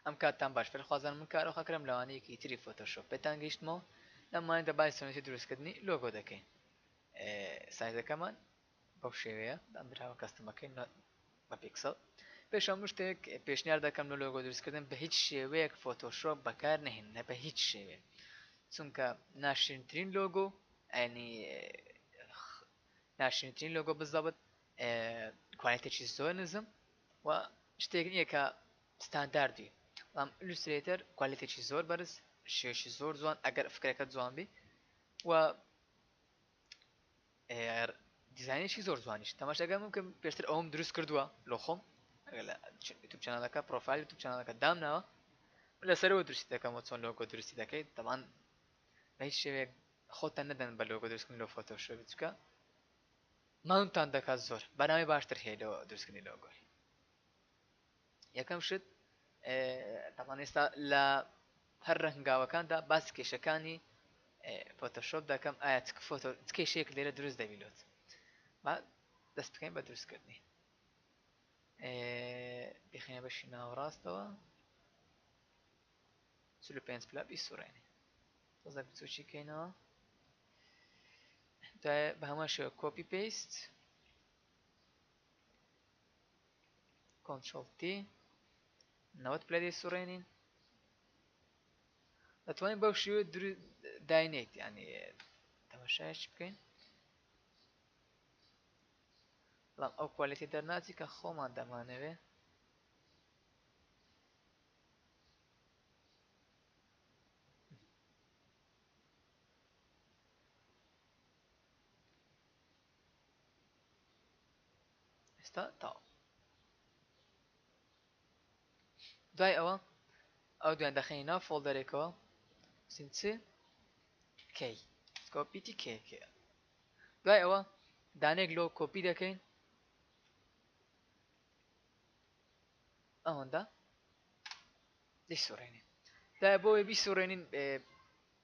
ئەم کاتتان باش فێر خوازان من کارۆ خەکرم لەوانەیەکی تری فۆتۆشۆپ پێتان گەیشتمەوە لەم مایەدا بای سۆنێتی دروستکردنی لۆگۆ دەکەین سایزەکەمان بەو شێوەیە دانراوە کەستمەکەی نۆت بە پیکسڵ. پێش هەموو شتێک پێشنیار دەکەم لۆ لۆگۆ دروستکردن بە هیچ شێوەیەک فۆتۆشۆپ بەکار نەهێنن بە هیچ شێوەیەک چونکە ناشرینترین لۆگۆ ئەنی ناشرینترین لۆگۆ بزەبت کوالێتێکی زۆر نزم و شتێک نییە کە ستانداردی بەڵام ئیلوسترێتەر کوالێتێکی زۆر بەرز شێشی زۆر جوان ئەگەر فکرەکە جوان بی و دیزانێکی زۆر جوانیش تەماشەگەم کە پێشتر ئەوم دروست کردووە لۆ خۆم یوتوب چنالەکە پرۆفایل یوتوب چنالەکە دامناوە لەسەرەوە دروستی دەکەمەوە چۆن لۆگۆ دروستی دەکەیت دەمان بە هیچ شێوێک خۆتان نەدەن بە لۆگۆ دروستکردن لۆ فۆتۆشۆ بچکە ماونتان دەکات زۆر بەناوی باشتر هەیە لەوە دروستکردنی لۆگۆی یەکەم شت تاڵان ئێستا لە هەر رە هەنگاوەکاندا باس کێشەکانی فۆتۆشۆپ دەکەم ئایا فۆتۆ کێشەیەک لێرە دروست دەبیلوت دەست بکەین بە دروستکردنی بخێنە بەشی ناوەڕاستەوە چلو پێنج پلا بیسوڕێنێ تۆزە بچوکی کەینەوە بە هەمان شێوە کۆپی پێیست کۆنترۆڵ تی نەوەد پلە لێ سوڕێنین دەتوانین بەو شێوە داینێت ینی تەمەشایش بکەین بەڵام ئەو کوالێتی دەرناچی کە خۆمان دەمانەوێ ئێستا تاو دوای ئەوە ئەو دوێن دەخەین ناو فۆڵدەرێکەوە سین چ کەی کۆپیتی کێکێ دوای ئەوە دانێک لۆ کۆپی دەکەین ئەوەندە دەیسوڕێنین دا بۆی بیسوڕێنین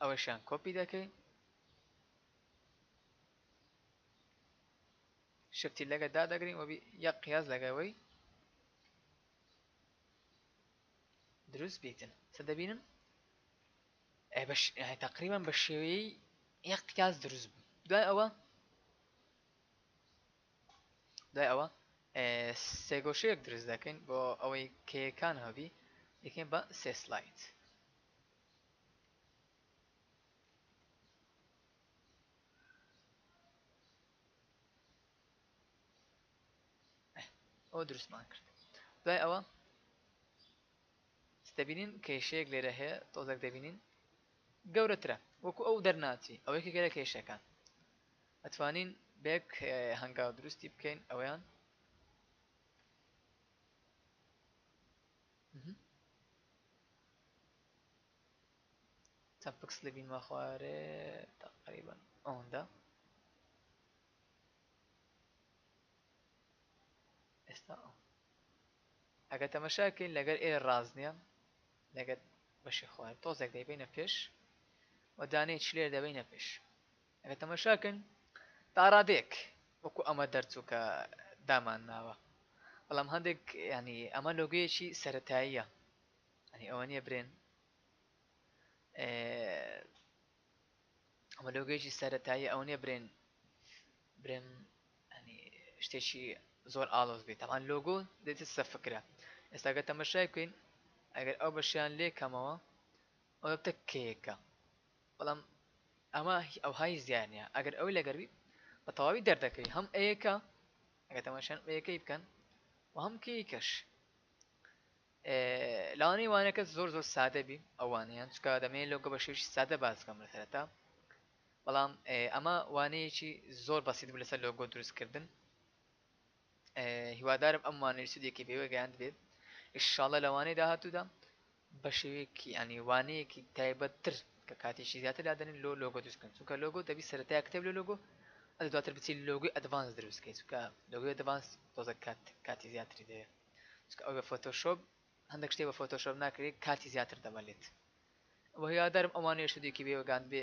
ئەوەشیان کۆپی دەکەی شفتی لەگە دادەگرین وەبی یەک قیاز لەگەوەی دروست بیتن چە دەبینم تقریبا بە شێوەیەی یەک قیاز دروست بوو دوای ئەوە دوای ئەوە سێگۆشەیەک دروست دەکەین بۆ ئەوەی کێکان هەبی یەکەین بە سێ سلایت ئەو دروستمان کرد دوای ئەوە دەبینین کێشەیەک لێرە هەیە تۆزەک دەبینین گەورەترە وەکو ئەو دەرناچی ئەوەیکی گەرە کێشەکان ئەتوانین بەیەک هەنگاو دروستی بکەین ئەوەیان چەند پکس لەبین ماخوارێ تقریبا ئەوەندە ئێستا ئەگە تەمەشاکەین لەگەر ئێ ڕاز نییە لەگەر بەشی خوارد تۆزێک دەیبینە پێش و دانێ چلێر دەبینە پێش ئەرێ تەماشا کەن تاڕادەیەک وەکو ئەمە دەرچوو کە دامان ناوە بەڵام هەندێک ینی ئەمە لۆگەیەکی سەتاییە ئەنی ئەوە نیە برێن ئەمە لۆگەیەکی سەتایی ئەو نیە برێن برێن ئەنی شتێکی زۆر ئالۆز بێت تاوان لۆگۆ دێتە سە فکرە ئێستاگە تەمەشای بکەین ئەگەر ئەو بەشیان لێ کەمەوە ئەوە بتە کێکە بەڵام ئەمە ئەوها هیچ دیار نییە ئەگەر ئەوەی لەگەر بیت بە تەواوی دەردەکەوی هەم ئەیەکە ئەگەر تەماشان ئەیەکەی بکەن و هەم کەیکەش لاوانەی وانەکە زۆر زۆر سادە بی ئەوانەیان چکە دەمێ لۆگە بە شێوشی سادە باسکەم لە سەرەتا بەڵام ئەمە وانەیەکی زۆر بەسیت بوو لەسەر لۆگۆ دروستکردن هیوادارم ئەم وانەی سودێکی پێوە گەیاند بێت ئیششاڵە لەوانەی داهاتوودا بە شێوەیەکی یانی وانەیەکی تایبەت تر کە کاتیشی زیاتر لادەنێن لۆ لۆگۆ دروست کردن چونکە لۆگۆ دەبی سەرەتای کتێب لۆ لۆگۆ ئەدی دواتر بچی لۆگۆی ئەدڤانس دروست کەی چونکە لۆگۆی ئەدڤانس تۆزە کات کاتی زیاتری دەوێ چونکە ئەو بە فۆتۆشۆپ هەندێک شتێ بە فۆتۆشۆپ ناکرێ کاتی زیاتر دەمەلێت وە هیوادارم ئەوانەیش ودیوکی بێ وگاندبێ.